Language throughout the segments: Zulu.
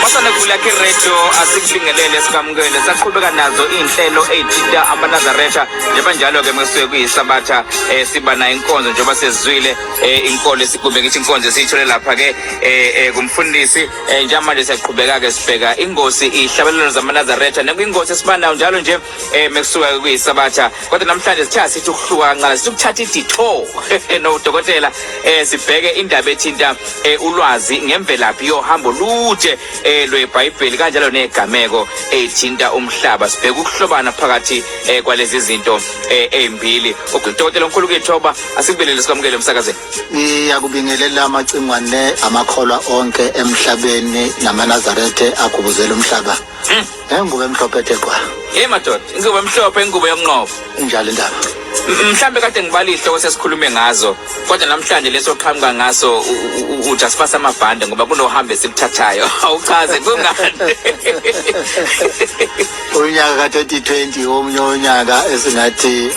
Basanegula ke radio asikulingelele sikamukele saqhubeka nazo inhlelo ezithinta amanazaretha njengoba njalo ke mesuke kuyisabatha eh siba na inkonzo njengoba sezwile eh inkolo esigube ngithi inkonzo esiyithole lapha ke eh, eh kumfundisi eh, njalo manje siyaqhubeka ke sibheka ingosi ihlabelelo zamanazaretha nekwingosi esibanayo njalo nje eh mekusuka kuyisabatha kodwa namhlanje sithe sithi ukuhluka kancane sithi ukuthatha iditho nodokotela eh sibheke indaba ethinta eh, ulwazi ngemvelaphi yohambo lude eh lweBhayibheli kanjalo negameko ethinta umhlaba sibheke ukuhlobana phakathi eh, kwalezi zinto eh, ezimbili udokotela omkhulu kethoba asibelele sikwamukele umsakazeni ngiyakubingelela amacingwane amakholwa onke emhlabeni namanazarethe agubuzela umhlaba hmm. Nengubo emhlophe ethe gqwa. Hey madoda, ingubo emhlophe ingubo yomnqobo. Injalo indaba. M- Mhlambe kade ngibala izihloko sesikhulume ngazo kodwa namhlanje leso qhamuka ngaso u- u- u- uthi asifase amabhande ngoba kunohambe esiluthathayo awuchaze kungani Unyaka ka 2020 omunye unyaka esingathi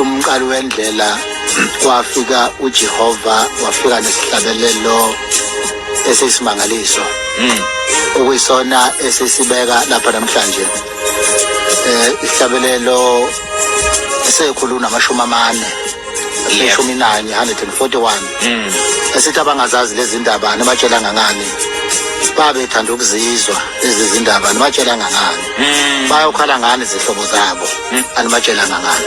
umqali wendlela kwafika uJehova wafika nesihlabelelo esiyisimangaliso hmm. okuyisona esisibeka lapha namhlanje eh isihlabelelo esekhulu namashumi amane leshumi nanye 141 hmm. esithi abangazazi lezi ndaba nibatshela ngangani babethanda ukuzizwa lezi zindaba nibatshela ngangani mm. bayokhala ngani izihlobo zabo mm. animatshelanga ngani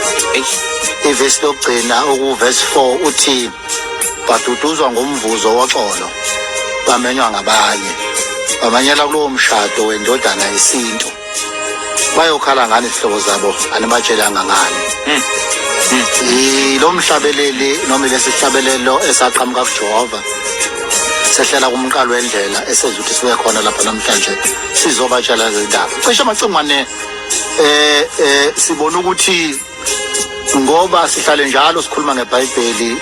ivesi lokugcina okuvesi 4 uthi baduduzwa ngomvuzo woxolo bamenywa ngabanye bamanyela kulowo mshado wendodana yesintu bayokhala ngani izihlobo zabo animatshelanga ngani mm. lo mhlabeleli noma lesihlabelelo esaqhamuka kujehova sehlela kumqalo wendlela esenza ukuthi sibe khona lapha namhlanje sizobatshala zindaba cishe amacingwane eh eh sibona ukuthi ngoba sihlale njalo sikhuluma ngebhayibheli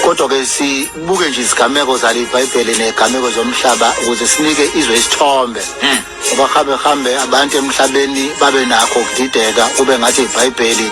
kodwa ke sibuke nje izigameko zale ibhayibheli nezigameko zomhlaba ukuze sinike izwe isithombe hmm. ngoba hambe hambe abantu emhlabeni babe nakho ukudideka kube ngathi ibhayibheli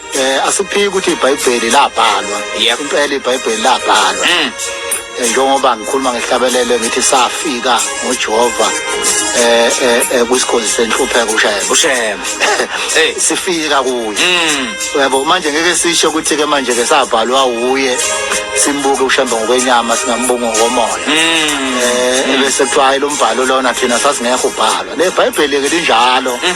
Eh asiphiki ukuthi iBhayibheli labhalwa. Yep. Impela iBhayibheli labhalwa. Mm. Eh, njengoba ngikhuluma ngehlabelelo ngithi safika ngoJehova eh eh, eh kwisikhonzi senhlupheko ushayela ushema hey sifika kuye mm. yebo manje ngeke sisho ukuthi ke manje ke sabhalwa uye simbuke ushembe ngokwenyama singambonga ngomoya mm. eh bese kuthiwa lo mbhalo lona thina sasingekho ubhalwa le bhayibheli ke linjalo mm.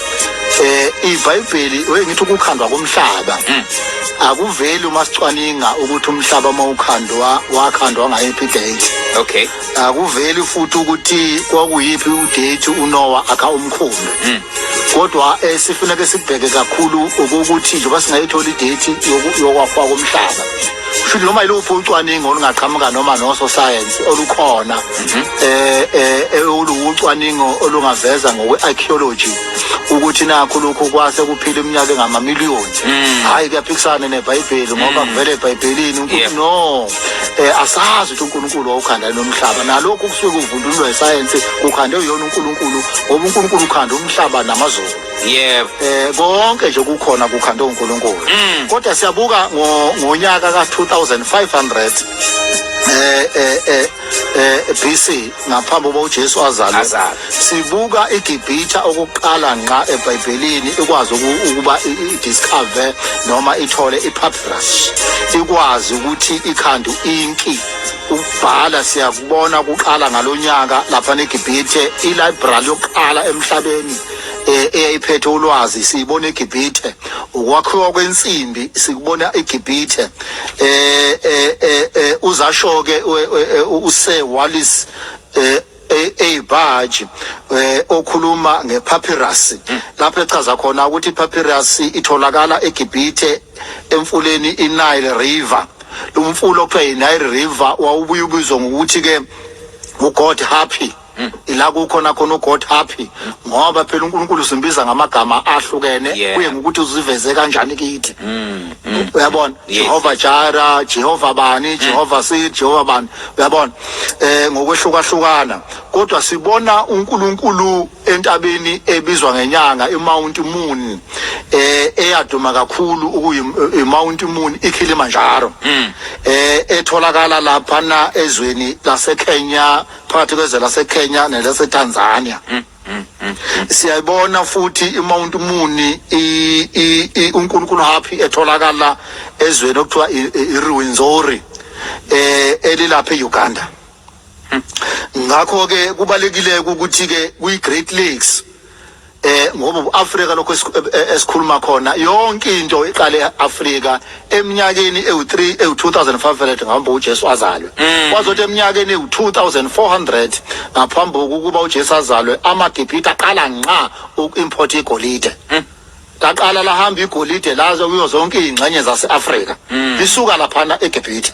eh iBhayibheli wengithi ukukhandwa komhlaba hmm. akuveli uma sicwaninga ukuthi umhlaba uma ukhandwa wakhandwa ngayiphi date okay akuveli futhi ukuthi kwakuyiphi udate uNoah akha umkhumbi hmm. kodwa esifuneka eh, sibheke kakhulu ukuthi njengoba singayithola idate yokwafa komhlaba futhi noma iluphi ucwaningo olungaqhamuka noma nososayensi olukhona mhm. eh, eh, eh oluwucwaningo olungaveza ngokwe-archaeology ukuthi nakho lokhu kwase kuphila iminyaka engamamiliyoni mm. hhayi kuyaphikisana nebhayibheli ngoba mm. kuvele ebhayibhelini unkulunkulu no um asazi ukuthi unkulunkulu wawukhandane nomhlaba nalokhu kusuke kuvundululwa isayensi kukhandwe uyona unkulunkulu ngoba unkulunkulu ukhanda umhlaba namazulu yebo eh konke nje kukhona kukhanda uNkulunkulu Mm. kodwa siyabuka ngo- ngonyaka ka 2500 eh eh eh eh BC ngaphambi kokuba uJesu azalwe Azalwe. sibuka iGibhithe okuqala nqa eBhayibhelini ikwazi uku- ukuba i- i- discover noma ithole ipapyrus ikwazi ukuthi ikhanda inki ukubhala siyakubona kuqala ngalonyaka lapha neGibhithe ilibrary yokuqala emhlabeni eh, eyayiphethe ulwazi siyibona eGibhithe ukwakhiwa kwensimbi sikubona eGibhithe eh, eh, eh, eh uzasho ke use Wallace eh eyibhaji eh okhuluma ngepapyrus hmm. lapho echaza khona ukuthi ipapyrus itholakala eGibhithe emfuleni iNile River lo mfula okuthiwa yiNile River wawubuye ubizwa ngokuthi ke uGod Happy Mm. ila kukhona khona uGod happy ngoba phela uNkulunkulu simbiza ngamagama ahlukene Yeah. kuye ngokuthi uziveze kanjani kithi Mm, mm. uyabona Yes. Jehova Jara Jehova bani Jehova Sid Jehova bani uyabona eh ngokwehlukahlukana kodwa sibona uNkulunkulu entabeni ebizwa ngenyanga iMount Moon eh eyaduma kakhulu ukuyi eh, iMount Moon iKilimanjaro eh etholakala lapha na ezweni laseKenya phakathi kwezwe laseKenya nelaseTanzania mm, mm, mm, siyayibona futhi iMount Muni uNkulunkulu happy etholakala ezweni okuthiwa iRwenzori eh elilapha eUganda ngakho ke kubalekile ukuthi ke kuyi Great Lakes eh ngoba uAfrika lokho esikhuluma khona yonke into iqale eAfrika eminyakeni ewu3 ewu2500 ngaphambi uJesu azalwe mm. kwazothi eminyakeni ewu2400 ngaphambi kokuba uJesu azalwe amaGibhithe aqala nqa ukuimport igolide mm. laqala lahamba igolide lazo kuyo zonke izingxenye zaseAfrika mm. lisuka lapha eGibhithe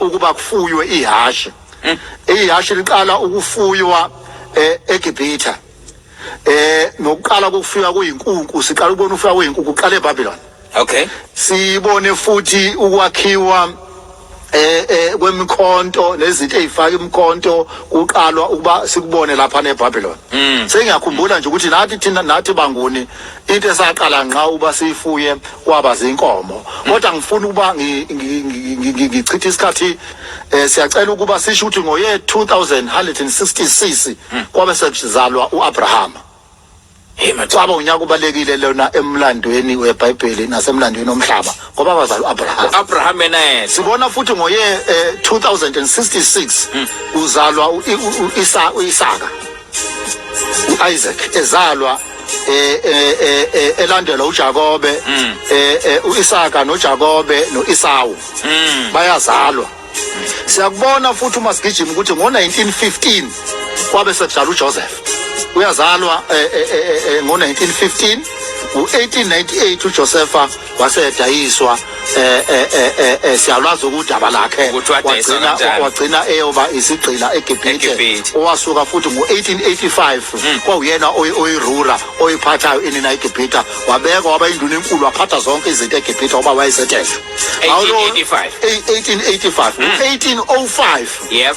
ukuba kufuywe ihhashi mm. ihhashi liqala ukufuywa eh, egibhitha eh nokuqala kokufika kuyinkunku siqala ukubona ufika kuyinkunku uqala eBabylon okay sibone futhi ukwakhiwa eh eh kwemikhonto nezinto ezifaka imikhonto kuqalwa ukuba sikubone lapha neBabylon mm. sengiyakhumbula nje ukuthi nathi thina nathi banguni into esaqala ngqa uba siyifuye kwaba zinkomo kodwa ngifuna ukuba ngichithe isikhathi eh, siyacela ukuba sisho ukuthi ngoye 2166 hmm. kwabe sekuzalwa uAbrahama Kwaba unyaka ubalekile lona emlandweni weBhayibheli nasemlandweni omhlaba ngoba abazali uAbraham. Abraham naye. Sibona futhi ngoye 2066 eh, hmm. uzalwa uIsaka. uIsaac ezalwa eh, eh, eh, eh elandela uJakobe mm. eh, eh uIsaka noJakobe noIsawu mm. bayazalwa siyakubona futhi uma sigijima ukuthi ngo-1915 kwabe sekudlala ujoseph uyazalwa eh, eh, eh, ngo-1915 ngo-1898 ujosefa wase edayiswa eh, eh, eh, eh siyalwazi ukudaba lakhe wagcina wagcina eyoba isigqila eGibhithe owasuka futhi ngo1885 hmm. kwawuyena oyirura oyiphathayo inina eGibhithe wabekwa waba induna enkulu waphatha zonke izinto eGibhithe oba wayesethesha 1885 1885 1805 yep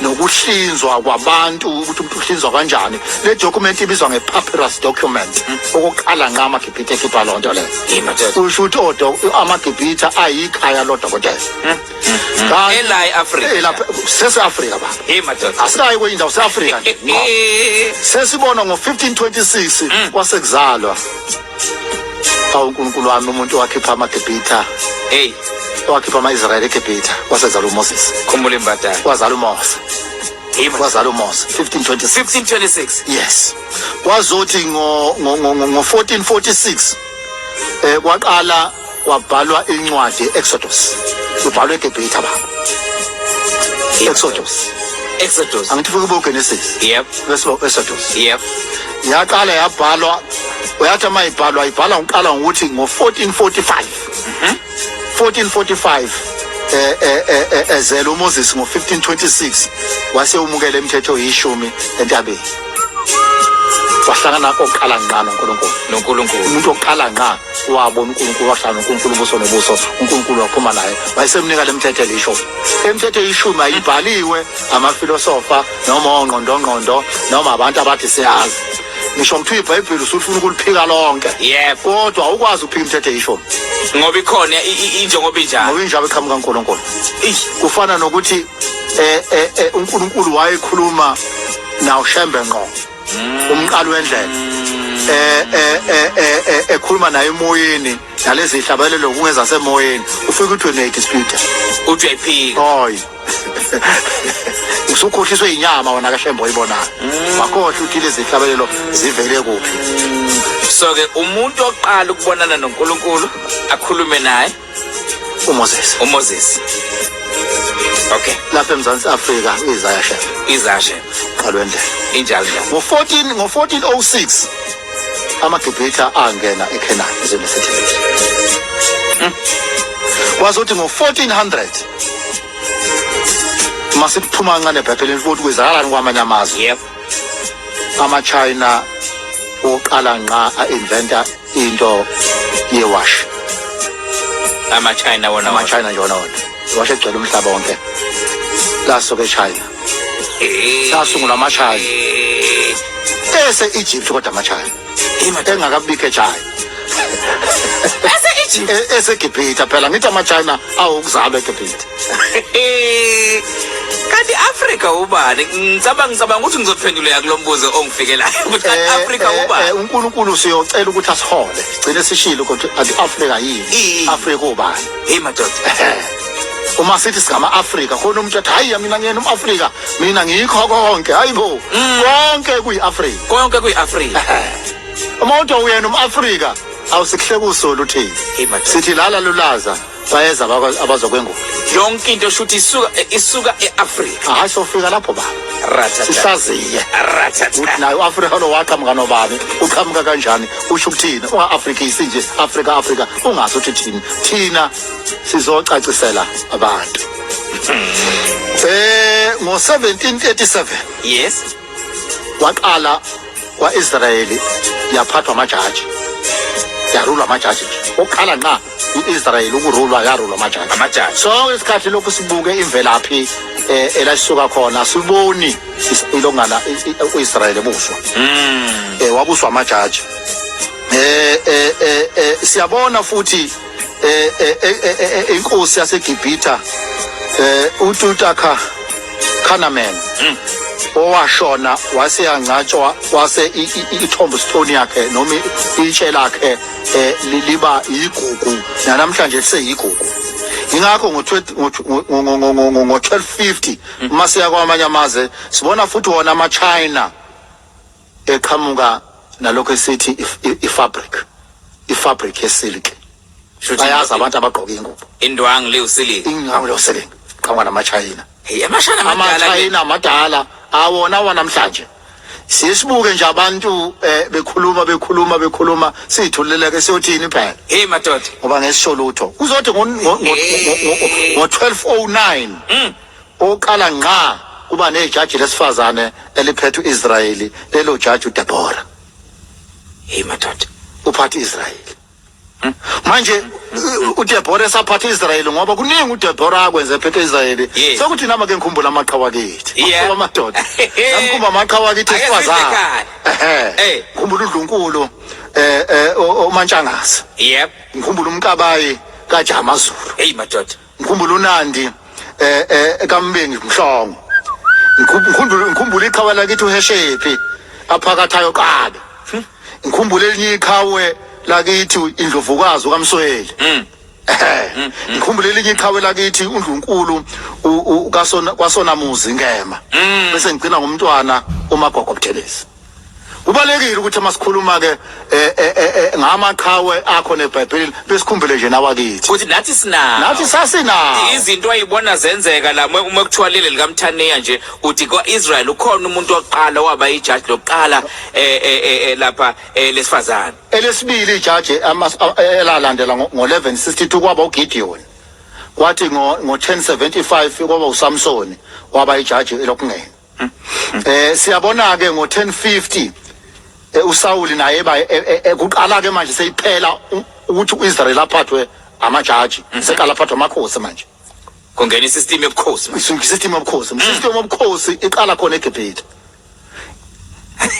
nokuhlinzwa kwabantu ukuthi umuntu uhlinzwa kanjani le document ibizwa nge-papyrus document okokuqala nqa amagibhitha ekhipha loo nto leyo Yini tete? kusho ukuthi odo- amagibhitha ayikhaya lodokotela Kanti- Ela e-Afrika. Ela- sese-afrika baba Hey madoda. asikayi kwenye indawo se-afrika nje Ngqo. Eh. sesibona ngo-1526 kwasekuzalwa awu unkulunkulu wami umuntu owakhipha amagibhitha Hey, owakhipha ama-israyeli egibhitha wasezala umoses khumbula imbadala. wazala umose Yima. wazala umose 1526 1526. yes kwazothi ngo ngo- ngo- ngo- ngo-1446 eh kwaqala kwabhalwa incwadi ye-exodus ibhalwe egebhitha baba exodus exodus angithi fuke bogenesis yep bese exodus yep yaqala yabhalwa uyathi uma ibhalwa ibhala ngiqala ngokuthi ngo-1445 1445 mhm. eh, eh, eh, ezela umoses ngo-1526 wase umukela imithetho yishumi entabeni wahlangana kokuqala ngqa nonkulunkulu nonkulunkulu umuntu oqala ngqa wabona uNkulunkulu wahlala uNkulunkulu ubuso nobuso uNkulunkulu waphuma naye wayesemnika lemthetho elisho imithetho eyishumi ayibhaliwe amafilosofa noma ongqondongqondo noma abantu abathi siyazi ngisho ngithiwa ibhayibheli usufuna ukuliphika lonke yebo kodwa awukwazi ukuphika imithetho eyishumi ngoba ikhona injengoba injalo ngoba injalo iqhamuka uNkulunkulu kufana nokuthi eh eh, eh uNkulunkulu wayekhuluma nawo shembe ngqo umqali wendlela eh eh eh, eh, eh ekhuluma naye emoyeni nalezi hlabalelo kungeza semoyeni ufike ukuthi ne dispute uthi uyayiphika hoy usukhohliswe inyama wona kashembo oyibonayo mm. wakhohle ukuthi lezi hlabalelo zivele kuphi so ke umuntu oqala ukubonana noNkulunkulu akhulume naye uMoses uMoses okay lapha eMzansi Afrika izashe izashe qalwe ndlela injalo ngo 14 ngo 1406 amaGibhitha angena eKhenani izweni laseGibhithe hmm. wazothi ngo 1400 masiphuma kancane ebhayibhelini futhi kwezakalani kwamanye amazwe yebo ama-china oqala nqa a-inventa into yewash ama-china wona ama-china nje wona wona iwash egcwele umhlaba wonke lasuke echina sasungula ama-china ese-egypt kodwa ama-china engakabike china eseegypt e-, esegibhitha phela ngithi amachina awokuzalwa egibhitha kanti afrika ubani ngicabanga ngicabanga ukuthi ngizophenduleka kulo mbuzo ongifikelayo ukuthi kanti eh, afrika eh, ubani eh, unkulunkulu siyocela ukuthi asihole gcine sishile ukuthi kanti afrika yini afrika ubani hey madoda uma sithi singama-afrika khona umuntu athi hhayi mina ngiyena um-afrika mina ngikho konke hayibo mm. konke kuyiAfrika konke kuyiAfrika uma uthi uyena umAfrika awusihle kusolo uthini sithi lala lulaza bayeza abazokwengula yonke into shuthi isuka isuka eAfrika hayi sofika lapho ba sihlaziye uthi nayo uAfrika lo waqhamuka nobani uqhamuka kanjani usho ukuthini ungaAfrika isinje Afrika Afrika ungazi ukuthi thini thina sizocacisela abantu Eh ngo-1737 yes waqala kwa-Israyeli yaphathwa amajaji yarulwa amajaji nje oqala nqa i-Israyeli ukurulwa yarulwa amajaji amajaji sonke isikhathi lokhu sibuke imvelaphi eh elasisuka khona siboni is- ilongana i- i- u-Israyeli ebuswa mm. eh wabuswa amajaji eh eh eh, eh siyabona futhi eh, eh, eh, inkosi yaseGibhitha eh uTutakha Khanaman hmm. owashona wase yangcatshwa wase ithombo stone yakhe noma itshe lakhe eh, liba yigugu namhlanje liseyigugu ingakho ngo-1250 uma siya kwamanye amazwe sibona futhi wona ama-china eqhamuka nalokho esithi ifabric ifabric yesilk bayazi abantu abagqoka ingubo indwangu liwusilk indwangu liwusilk qhamuka namachayina hey amashana amadala amachayina amadala awona wanamhlanje sisibuke nje abantu eh, bekhuluma bekhuluma bekhuluma sithuleleke siyothini phela hey madoda ngoba ngesisho lutho kuzothi ngo 1209 Okokuqala ngqa kuba nejaji lesifazane eliphethe u-Israyeli, lelo jaji uDebora. Hey madoda, uphatha i-Israyeli. Hmm? Manje uDebora esaphatha i-Israyeli ngoba kuningi uDebora akwenze ephethe i-Israyeli. Yes. Sekuthi nama ke ngikhumbula amaqhawa kithi. Yeah. Ngoba madoda. Ngikhumba amaqhawa kithi Ake esifazane. sihle ekhaya. Ehhe. Hey. Ngikhumbula uDlunkulu eh eh o- o- uMantshangase. Yep. Ngikhumbula uMkabayi kaJama Zulu. Hey madoda. Ngikhumbula uNandi eh eh kaMbengi Mhlongo. Ngikhumbula ngikhumbula iqhawe lakithi uHeshephi aphakathayo qaba. Ngikhumbula elinye iqhawe lakithi indlovukazi ukaMsweli. Mm. Eh, ngikhumbula elinye iqhawe lakithi uNdlunkulu u- u- kasona kwasonamuzi ngema. Bese ngigcina ngomntwana uMagogo Buthelezi. Kubalekile ukuthi uma sikhuluma ke eh, eh, eh, ngamaqhawe akho neBhayibheli besikhumbule nje nawakithi. Futhi nathi sinawo. Nathi sasinawo. Izinto ayibona zenzeka la uma uma kuthiwa leli likaMthaniya nje uthi kwaIsrael ukhona umuntu oqala waba ijaji lokuqala eh, eh, eh, eh, lapha eh, lesifazane. Elesibili ijaji ama- a- elalandela ngo- ngo-1162 kwaba uGideon. Kwathi ngo- ngo-1075 kwaba uSamsoni waba ijaji lokungena. Eh siyabona ke ngo 1050 eh, uSawuli naye ba eh, eh, eh, kuqala ke manje seyiphela u- ukuthi uIsrael aphathwe amajaji seqala aphathwe amakhosi manje kungena isystem yobukhosi manje. Isu- system yobukhosi system yobukhosi iqala khona eGibhithe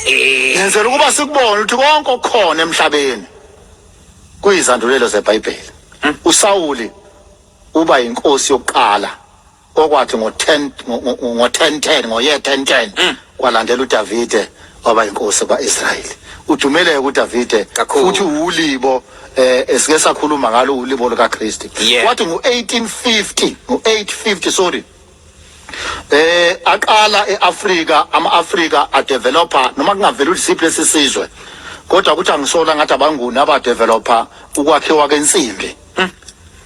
Eh, yenzela ukuba sikubone ukuthi konke okukhona emhlabeni kuyizandulelo zeBhayibheli uSawuli uba inkosi yokuqala Okwathi ngo-10 ngo-10:10 ngoye 10:10 Mm. kwalandela uDavide waba inkosi kwa-Israyeli. Udumeleke uDavide Kakhulu. futhi uwulibo eh esike sakhuluma ngalo ulibo likaKristu. Yeah. Kwathi ngo-1850 ngo-850 sorry eh aqala eAfrika amaAfrika adeveloper noma kungavela ulisiphi lesisizwe kodwa ukuthi angisola ngathi abanguni abadeveloper ukwakhiwa kwensimbi Hmm.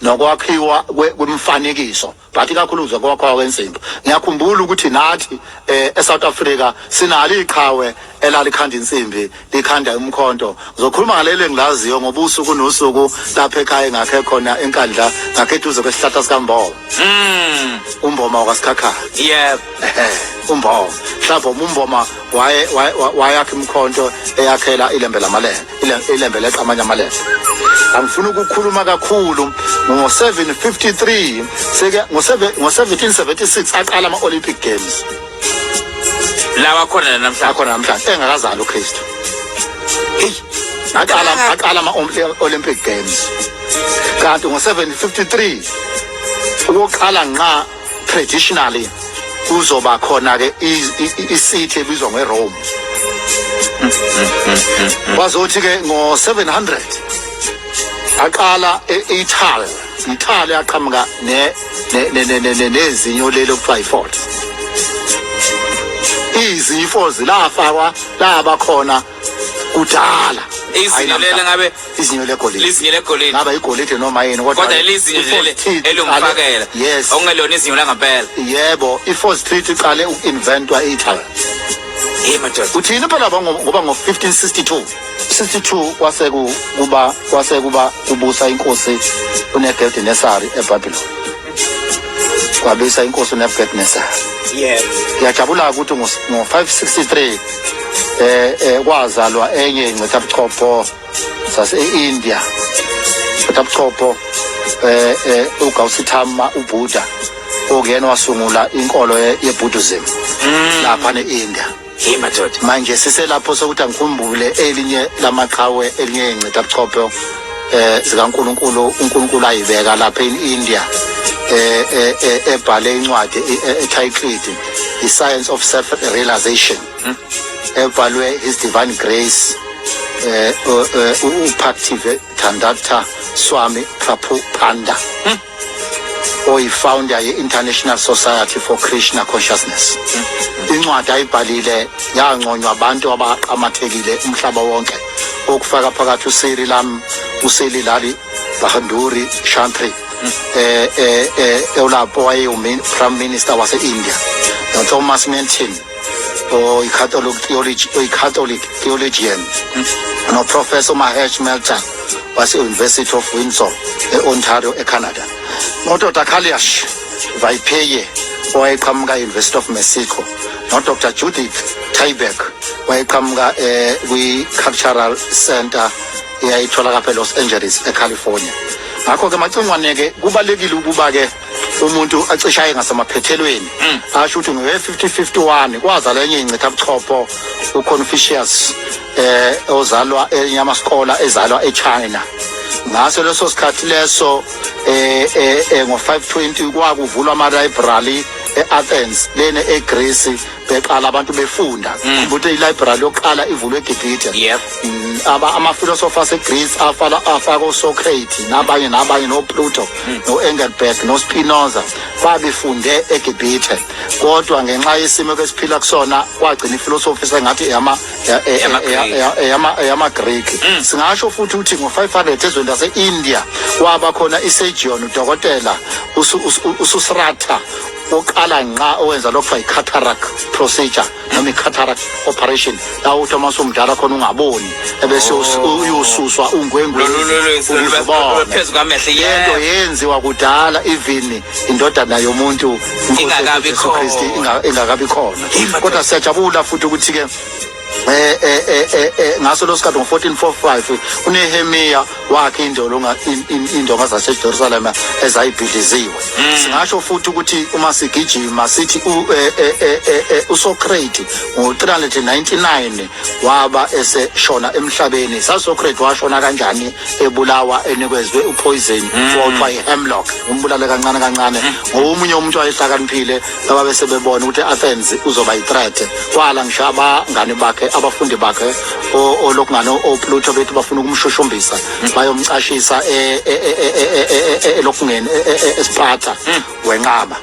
nokwakhiwa kwemifanekiso but ikakhulu nje kwakhiwa kwensimbi ngiyakhumbula ukuthi nathi eh, eSouth Africa sinalo iqhawe elalikhanda insimbi likhanda umkhonto ngizokhuluma ngaleli engilaziyo ngoba usuku nosuku lapha ekhaya engakhe khona enkandla ngakhe eduze kwesihlahla sikamboma mm. umboma wakasikhakhaya yep umboma mhlawumbe umboma wayakha imkhonto eyakhela ilembe lamalembe ilembe leqa amanye amalembe angifuni ukukhuluma kakhulu ngo-753 seke ngo-1776 aqala ama-olympic games lawa khona namhlanje akhona namhlanje engakazali ukristu heyi aqala aqala ama-olympic games kanti ngo-753 ukuqala nqa traditionally kuzoba khona ke isithe ebizwa ngeRome bazothi ke ngo700 aqala eItaly Italy aqhamuka ne nezinyo lelo kuthiwa iFord izifo zilafakwa laba khona kudala izinyo lele ngabe izinyo legolide lizinyo legolide ngaba igolide noma yini kodwa kodwa lizinyo lele elungifakela yes okungelona izinyo langempela yebo i-force treat iqale uku-inventwa e-italy uthini phela ngoba ngo-1562 62 kwase kuba kwase kuba kubusa inkosi unegeldinesari ebhabhiloni kwabisa inkosi uNebukadnezar yes ngiyajabula ukuthi ngo-563 eh eh kwazalwa enye incithabuchopho sase-India incithabuchopho eh eh uGautama uBuddha okuyena wasungula inkolo yeBuddhism mm. lapha ne-India Hey madoda. Manje siselapho sokuthi angikhumbule elinye lamaqhawe elinye ingcitha buchopho eh zikaNkuluNkulu uNkulunkulu ayibeka lapha eIndia eh, eh, eh ebhale incwadi etitled The Science of Self Realization hmm? ebhalwe His Divine Grace eh, eh upactive Thandatta Swami Prabhupada hmm? oyifounder ye-international society for krishna consciousness incwadi ayibhalile yanconywa abantu abaqamathekile umhlaba wonke okufaka phakathi usiri lam usili lali bahanduri shantri eh eh eh ewulapho wayewu prime minister wase-india nothomas mentin oyi-catholic oyi-catholic theologian noprofessor umahesh melter wase-university of windsor e-ontario ecanada nodr kaliash vaipeye owayeqhamuka e-university of mexico nodr judith tyberg wayeqhamuka eh, kwi-cultural center eyayitholaka phe-los angeles ecalifornia ngakho-ke macingwane-ke kubalulekile ukuba-ke umuntu acishaye ngasemaphethelweni mm. asho ukuthi ngowe 5051 kwazala enye incitha buchopho uConfucius eh ozalwa enyama skola ezalwa eChina ngaso leso sikhathi leso eh, eh, eh ngo 520 kwakuvulwa ama library eAthens lene eGreece beqala abantu befunda mm. ukuthi i-library yokuqala ivulwe egibhithe yep. Mm, amafilosofi asegreece afala afaka osocrate nabanye nabanye nopluto mm. no-engelberg nospinoza babefunde egibhithe kodwa ngenxa yesimo kesiphila kusona kwagcina ifilosofi sengathi eyamagriki singasho futhi ukuthi ngo-500 ezweni lase-india kwaba khona isegion udokotela ususrata oqala nqa owenza lokhu kuthiwa i-cataract procedure noma i-cataract operation la uthi uma usumdala khona ungaboni ebese us- Oh. uyosuswa Lolu- ungwengweni lolu- lolu- ukuze lolu- ubone. phezu kwamehlo, lento yebo. yenziwa kudala even indodana yomuntu Inkosi yethu Ingakabi Jesu Kristu khona. inga- ingakabi khona Hey, madoda. kodwa siyajabula futhi ukuthi-ke eh eh eh eh, eh ngaso losikhathi ngo1445 uNehemiya wakhe indolo indonga zaseJerusalem ezayibhidliziwe hmm. singasho futhi ukuthi uma sigijima sithi eh, eh, uSocrates ngo399 waba eseshona emhlabeni saSocrates washona kanjani ebulawa enikezwe upoison hmm. kuthiwa ihemlock umbulale kancane kancane hmm. ngomunye umuntu wayehlakaniphile ababe sebebona ukuthi i-athens uzoba yi-threat kwala ngisho abangani bakhe abafundi bakhe olokungane opluto bethi bafuna ukumshushumbisa bayomcashisa elokungeni esiphatha wenqaba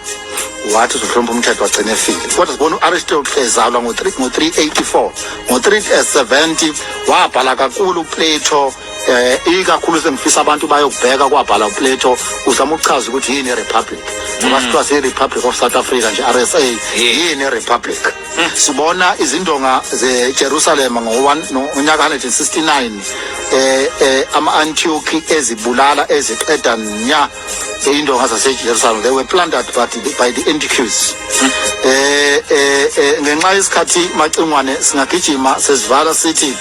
wathi uzohlonipha umthetho wagcina efile kodwa sibona u-aristotle ezalwa ngo-384 ngo-370 wabhala kakhulu uplato eh ikakhulu sengifisa abantu bayokubheka kwabhala uPleto uzama ukuchaza ukuthi yini iRepublic ngoba mm. sithiwa siyiRepublic of South Africa nje RSA yini iRepublic mm. sibona izindonga zeJerusalem ngonyaka 169 eh, eh ama-antiochi ezibulala eziqeda nya iy'ndonga zasejerusalem they were planted but by the antiques um mm. eh, eh, eh, ngenxa yesikhathi macingwane singagijima sesivala sithi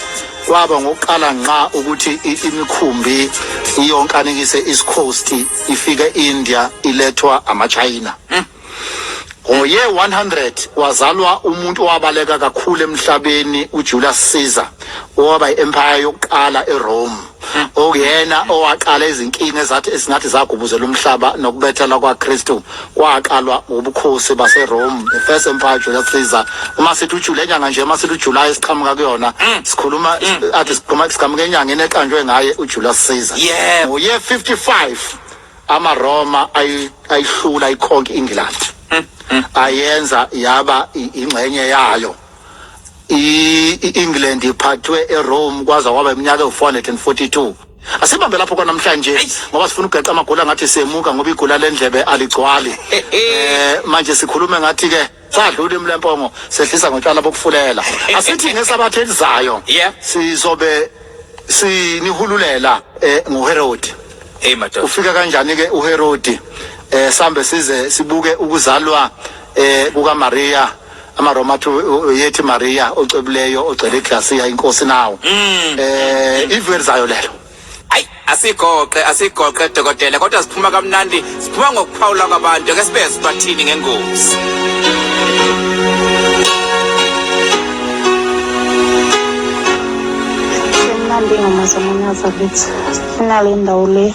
kwaba ngokuqala nqa ukuthi i- imikhumbi iyonkanekise east coast ifike india ilethwa amachina ngoye 100 wazalwa umuntu owabaleka kakhulu emhlabeni ujulius caesar owaba i-empire yokuqala erome okuyena owaqala izinkinga ezathi esingathi zagubuzela umhlaba nokubethela kwakristu kwaqalwa ubukhosi baserome the first empire julius caesar uma sithi ujule nyanga nje uma sithi ujuly siqhamuka kuyona mm. sikhuluma mm. athi siqhamuka siqhamuka enyangeni eqanjwe ngaye ujulius caesar yeah uye 55 amaroma ayihlula ikhonke england mm, ayenza yaba ingxenye yayo i-england iphathwe erome kwaza kwaba iminyaka ewu-442 Asibambe lapho kwanamhlanje ngoba sifuna ugeqa amagula ngathi semuka ngoba igula lendlebe aligcwali. Eh manje sikhulume ngathi ke sadlula imlempongo sehlisa ngotshwala bokufulela. Asithi ngesabathe elizayo Yeah. sizobe sinihululela eh ngoHerodi. Hey madoda. Ufika kanjani ke uHerodi? Eh sambe size sibuke ukuzalwa eh kukaMaria amaroma athi yethi maria ocebileyo ogcele iglasiya inkosi nawo Mm. eh ivu elizayo lelo ayi asigoqe asigoqe dokotela kodwa siphuma kamnandi siphuma ngokuphawula kwabantu ke sibe sibathini ngengozi Mnandi ngamazamanyaza lithi inale ndawo le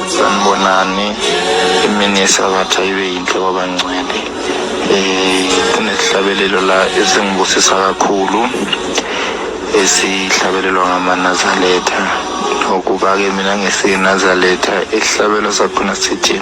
Sanibonani, imini yesabatha ibe yinhle kwabangcwele. Eh, kunesihlabelelo la esingibusisa kakhulu esihlabelelwa ngamanazaletha ngokuba-ke mina ngisenazaletha isihlabelo sakhona sithi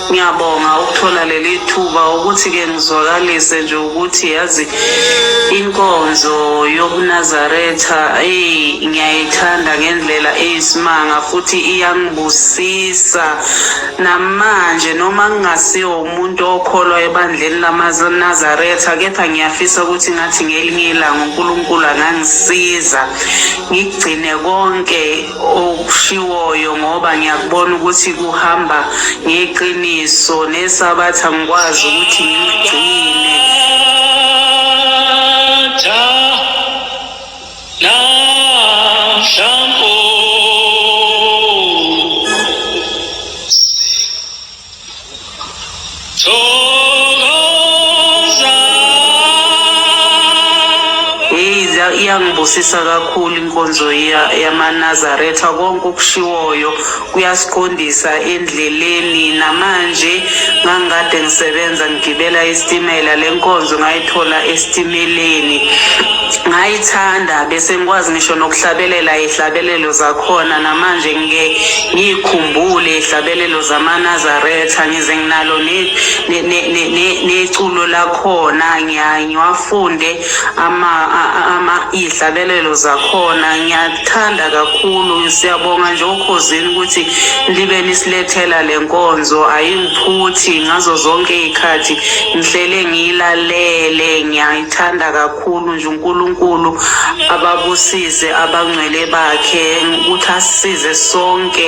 Ngiyabonga ukuthola leli thuba ukuthi-ke ngizwakalise nje ukuthi yazi inkonzo yobunazaretha eyi ngiyayithanda ngendlela eyisimanga futhi iyangibusisa namanje noma ngingasiwo umuntu okholwa ebandleni lamanazaretha kepha ngiyafisa ukuthi ngathi ngelinye ilanga unkulunkulu angangisiza ngigcine konke okushiwoyo ngoba ngiyakubona ukuthi kuhamba ngeqiniso nesabatha ngikwazi ukuthi ngigcine iyangibusisa kakhulu inkonzo yamanazaretha konke okushiwoyo kuyasiqondisa endleleni namanje ngangikade ngisebenza ngigibela isitimela le nkonzo ngayithola esitimeleni ngayithanda bese ngikwazi ngisho nokuhlabelela ihlabelelo zakhona namanje ngike ngiyikhumbule ihlabelelo zamanazaretha ngize nginalo neculo lakhona ngiwafunde iy'hlabelelo zakhona ngiyathanda kakhulu siyabonga nje okhozini ukuthi libe nisilethela le nkonzo ayingiphuthi ngazo zonke iy'khathi ngihlele ngiyilalele ngiyayithanda kakhulu nje unkulunkulu ababusise abangcwele bakhe ukuthi asisize sonke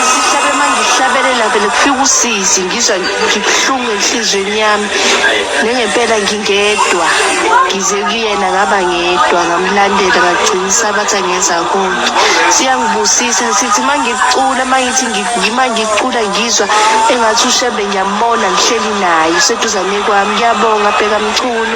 Ngihlabe uma ngihlabelela vele kufika usizi ngizwa ngibuhlungu enhliziyweni yami nengempela ngingedwa ngize kuyena ngaba ngedwa ngamlandela ngagcina isabatha ngenza konke siyangibusisa sithi uma ngicula uma ngithi ngi- ngima ngicula ngizwa engathi ushembe ngiyambona ngihleli naye useduzane kwami ngiyabonga bheka mculo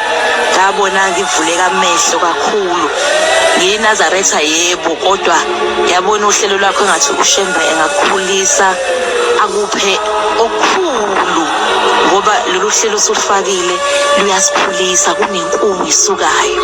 ngabona ngivuleka amehlo kakhulu ngiyinazaretha yebo kodwa yabona uhlelo lwakho engathi ushembe engakukhulisa akuphe okukhulu ngoba lolu hlelo osulufakile luyasikhulisa kunenkungu isukayo